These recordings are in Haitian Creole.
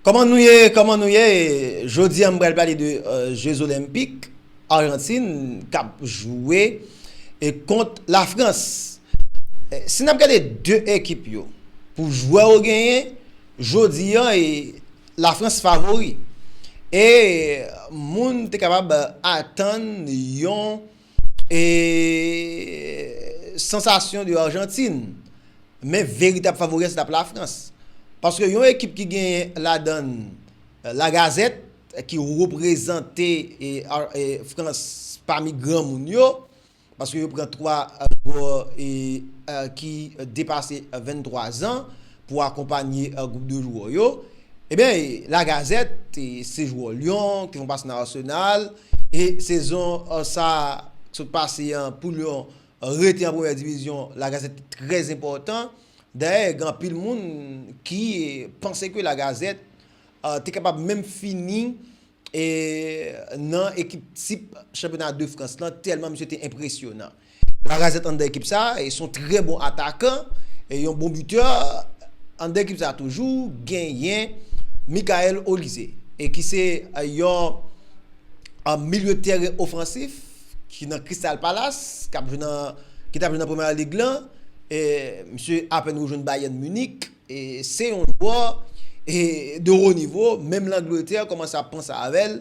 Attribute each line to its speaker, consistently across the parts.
Speaker 1: Koman nou ye, koman nou ye, jodi an m pral pale de je zolenpik Arjantin kap jwe kont la Frans. Si n ap gade 2 ekip yo pou jwè yo genyen, jodi an la Frans favori e moun te kapab atann yon. E sansasyon de Arjantin. Men veritab favori a se t ap Lafrans. Paske yon ekip ki genyen ladan l Lagazette ki reprezante Frans pami granmoun yo, paske yo pran 3 jwè ki depase 23 zan pou akonpanye gwoup de jwè yo. Ebyen Lagazette se jwè Lyon ki fon pase nan Arsenal. E sezon sa a k sot pase an pou Lyon rete an premyè divizyon La Gazette te trè enpòtan. Dayè gen anpil moun ki panse ke La Gazette te kapab menm fini nan ekip tip chanpyona de Frans lan tèlman misye te enpresyonan. Lacazette anndan ekip sa e son trè bon atakan e yon bon bitè anndan ekip sa toujou genyen Mickaël Olise e ki se yon milye tèren ofansif ki nan Crystal Palace kap jwe nan ki tap jwe nan Premier League lan e misye apèn rejwenn Bayern Munich e se yon jwè de ro nivo menm Langletè kòmanse ap panse avèl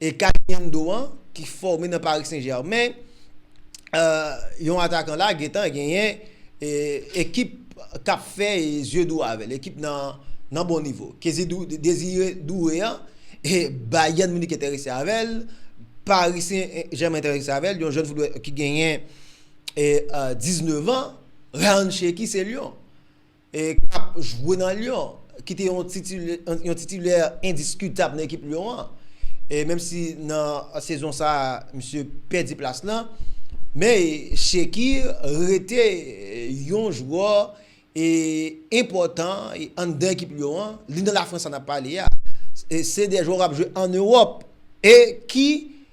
Speaker 1: E Caliendo an ki fòme nan Paris Saint Germain, yon atakan la gentan genyen ekip kap fè zye dou avèl, ekip nan bon nivo. Désiré Doué an, Bayern Munich enterese avèl, Paris Saint Germain enterese avèl, yon jèn footballè ki genyen 19 ans, Ryan Cherki se Lyon. k ap jwe nan Lyon, ki te yon titilè endiskitab nan ekip Lyon an, menm si nan sezon sa a misye pèdi plas lan, men Shekir rete yon jwè enpòtan anndan ekip Lyon an, li nan Lafrans sa n ap pale a, se de jwè k ap jwe an Ewòp e ki.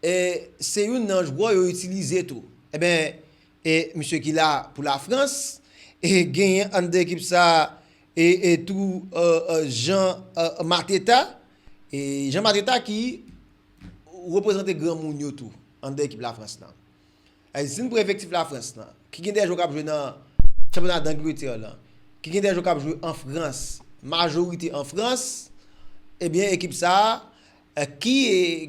Speaker 1: E se youn nan jwè yo itilize tou. Enben, e misye ki la pou Lafrans, e genyen anndan ekip sa a e tou Jean Mateta. E Jean Mateta ki reprezante granmoun yo tou anndan ekip Lafrans lan. Zin pou efektif Lafrans lan, ki gen 2 jwè k ap jwe nan chanpyona Dangletè lan, ki gen 2 jwè k ap jwe an Frans, majorite an Frans, ebyen ekip sa a ki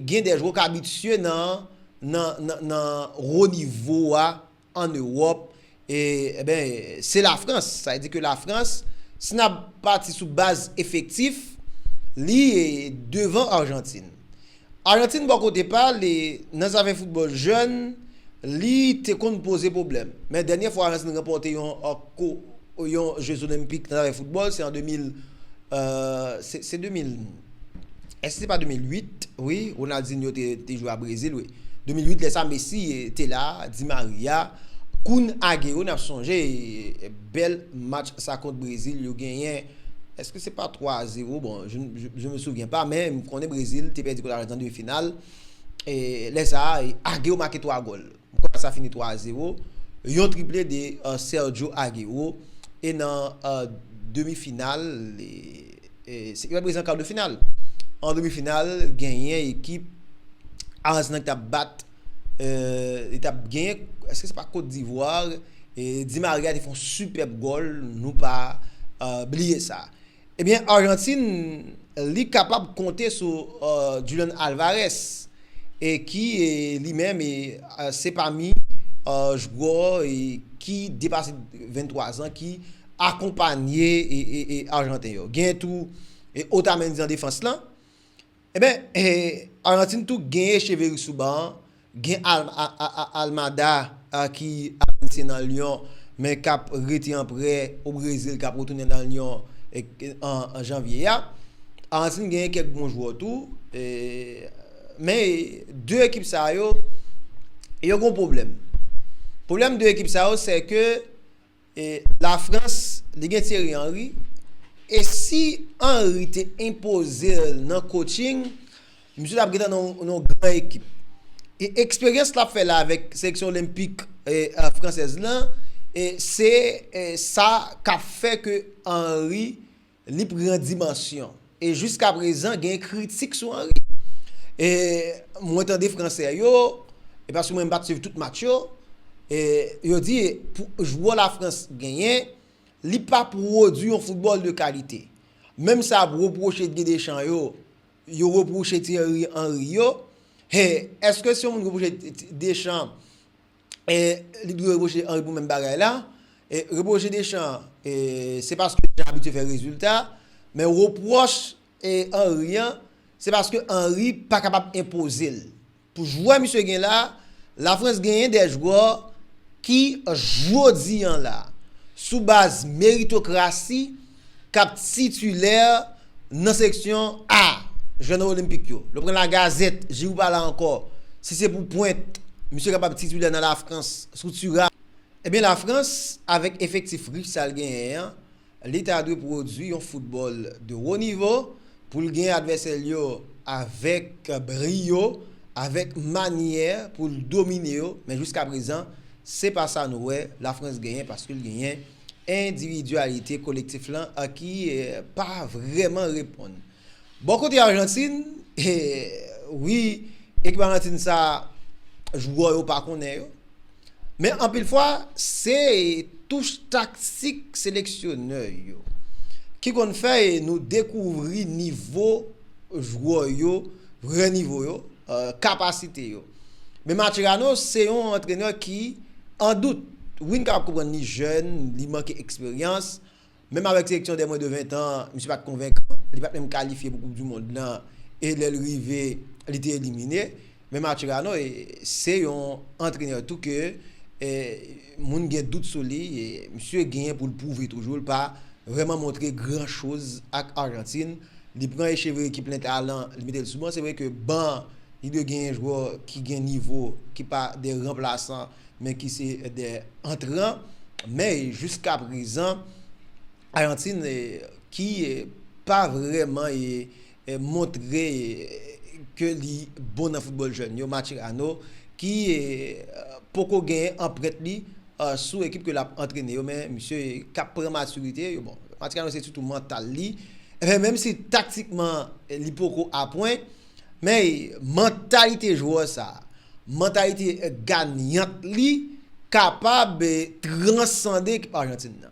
Speaker 1: gen 2 jwè k abitye nan nan nan wo nivo a an Ewòp, E ben, se la Frans. Sa vle di ke la Frans, si n ap pati sou baz efektif, li devan Arjantin. Arjantin bò kote pa li, nan zafè foutbòl jèn, li te konn poze pwoblèm. Men dènyè fwa Arjantin ranpòte yon ko, yon je zolenpik nan zafè foutbòl, se an 2000, se 2000. Èske se pa 2008 wi Ronaldinho te jwe a Brezil wi. 2008 lè sa Messi te la, Di Maria, Kun Agüero nap sonje bèl match sa kont Brezil yo genyen èske se pa 3 a 0 bon je me souviens pas men m konnen Brezil te pèdi kont Arjantin an demi final lè sa Agüero make 3 gòl. Match la fini 3 a 0, yon triple de Sergio Aguero e nan demi final, se ki pa prezan kar de final, an demi final genyen ekip Arjantin ki tap bat, li tap genyen, eske se pa Kot Divwar, Di Maria te fon sipèb gòl, nou pa bliye sa. Ebyen Arjantin li kapab konte sou Julian Alvarez ki li menm se pami jwè ki depase 23 zan ki akonpanye Arjanten yo. Gen tou Otamendi nan defans lan. Eben Argentine tou gen Echeverri sou ban an, gen Almada ki ap ansyen nan Lyon men k ap rete an prè o Brezil k ap retounen nan Lyon an janvye a. Argentine genyen kèk bon jwè tou men 2 ekip sa yo yo gen yon pwoblèm. Pwoblèm 2 ekip sa yo se ke E la frans li gen Thierry Henry e si Henry te enpozel nan coaching misye tap gentan nan yon gran ekip e eksperyans lap fè la avèk seleksyon olenpik fransèz lan se sa kap fè ke Henry Li pran dimansyon. E jiska prezan gen kritik sou Henry. E mwen tande fransè yo, e paske mwen mpa t swiv tout match yo, e yo di pou jwè la Frans genyen, li pa pwodwi yon foutbòl de kalite. Menm sa ap repwoche Didier Deschamps yo, yo repwoche Thierry Henry yo, e èske si yon moun repwoche Deschamps li dwe reproche Henry pou menm bagay la, reproche Deschamps se paske Deschamps abitye fè rezilta, men repwòch Henry an se paske Henry pa kapab enpoze l. Pou jwè misye gen la, Lafrans genyen 2 jwè ki jodi an la sou baz meritokrasi, k ap titilè nan seksyon A jwè nan Olenpik yo. Lè w pran Lagazèt, Jirou pa la ankò. Si se pou pwent, misye kapab titilè nan Lafrans sou Thuram. Ebyen Lafrans avèk efektif rich sa l genyen an, li ta dwe pwodui yon foutbòl de wo nivo pou l genyen advèsè l yo avèk briyo, avèk manyè pou l domine yo. Men jiskaprezan, se pa sa nou wè Lafrans genyen paske l genyen. Endividyalite kolektif lan a ki pa vrèman reponn. Bò kote Ajantin, wi, ekip Ajantin sa a, jwè yo pa konnen yo. Men anpil fwa, se touch taktik seleksyonè yo ki konn fè nou dekouvri nivo jwè yo, vrè nivo yo, kapasite yo. Men Macherano se yon antrenè ki an dout. Wi n kapab konprann li jèn, li manke eksperyans. Menm avèk seleksyon dè mwen de 20 tan, misye pa t konvenkan. Li pa t menm kalifye pou koup di mond lan e lè l rive, li te elimine. Men Macherano se yon antrenè tou ke. moun gen dout sou li, misye genyen pou l pwouve toujou l pa vrèman montre gran choz ak Arjantin, li pran echeveri ki plen talan li mete l sou ban, se vre ke ban an li dwe genyen jwè ki gen nivo ki pa de ranplasan men ki se de antran men jiskaprezan Arjantin ki pa vrèman montre ke li bon nan foutbòl jèn yo, Macherano ki poko gen anprent li sou ekip ke lap antrene yo men misye kap pran matirite, bon Macherano se sitou mantal li, menm si taktikman li poko apwen men mantalite jwè sa, mantalite ganyant li kapab transande ekip Arjantin nan.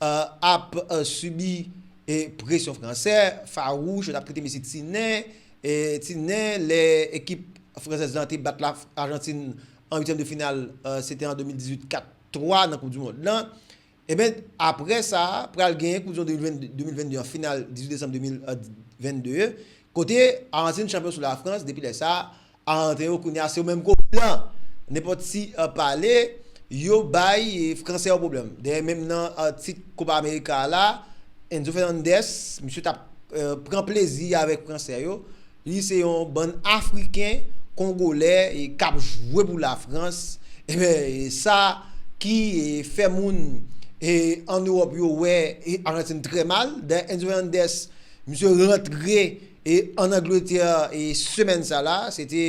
Speaker 1: ap sibi presyon fransè, fawouch, yo t ap trete mesye ti nen, ti nen, lè ekip fransèz lan te bat Ajantin an uityèm de final, se te an 2018, 4, 3 nan koup di mond lan. Eben, aprè sa, pral gen koup di mond 2022 an, final 18 desanm 2022, kote Ajantin chanpyon sou Lafrans, depi lè sa, A antre yo kounya se yo menm ko blan nenpòt ti pale yo bay fransè yo pwoblèm dayè menm nan tit kopa amerika a la Enzo Fernandez misye tap pran plezi avèk fransè yo li se yon bann afriken kongolè kap jwe pou la frans enben sa ki fè moun an ewòp yo wè ajantin trè mal dayè Enzo Fernandez misye rantre E an Angletè e semèn sa la, se te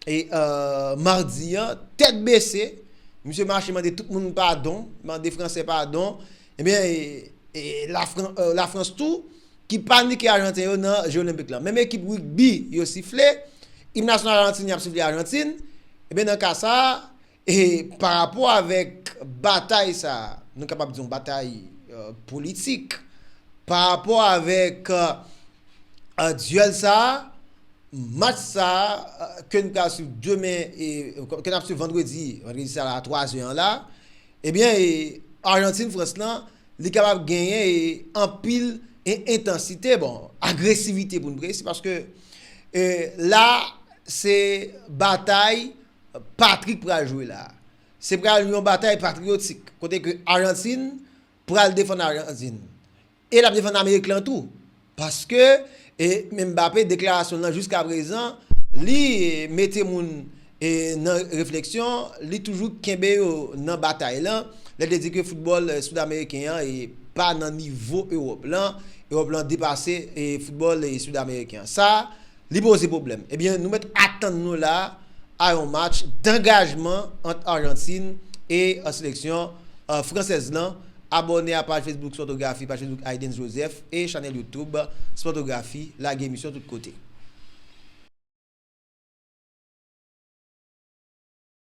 Speaker 1: e mardi an, tèt bese, misye mache mande tout moun padon, mande fransè padon, ebyen e lafrans tou ki panike ajanten yo nan je olenpik la. Menm ekip rigbi yo sifle, im nasyonal ajantinyen ap sifle ajantin, ebyen nan ka sa. E pa rapò avèk batay sa a, nou kapab di yon batay politik, pa rapò avèk dyèl sa a, match sa a ke n pral swiv demen, ke n ap swiv vandredi, vandredi sa la a 3 zè an la, ebyen e Arjantin Frans lan, li kapab genyen e anpil e entansite, bon, agresivite pou n presi, paske e la se batay Patrick pral jwe la. Se pral yon batay patriyotik kote ke Ajantin pral defann Ajantin. E l ap defann Amerik lan tou. Paske Mbappe deklarasyon l lan jiskaprezan li mete moun nan refleksyon, li toujou kenbe yo nan batay lan. Lè l te di ke foutbòl Sidameriken an pa nan nivo Ewòp lan. Ewòp lan depase foutbòl Sidameriken an. Sa. Li poze pwoblèm. Ebyen nou mèt atann nou la a yon match dangajman ant Arjantin e seleksyon fransèz lan. Abòne a paj Facebook Spòtografi, paj Facebook Aydens Joseph e chanèl YouTube Spòtografi. Lage emisyon tout kote.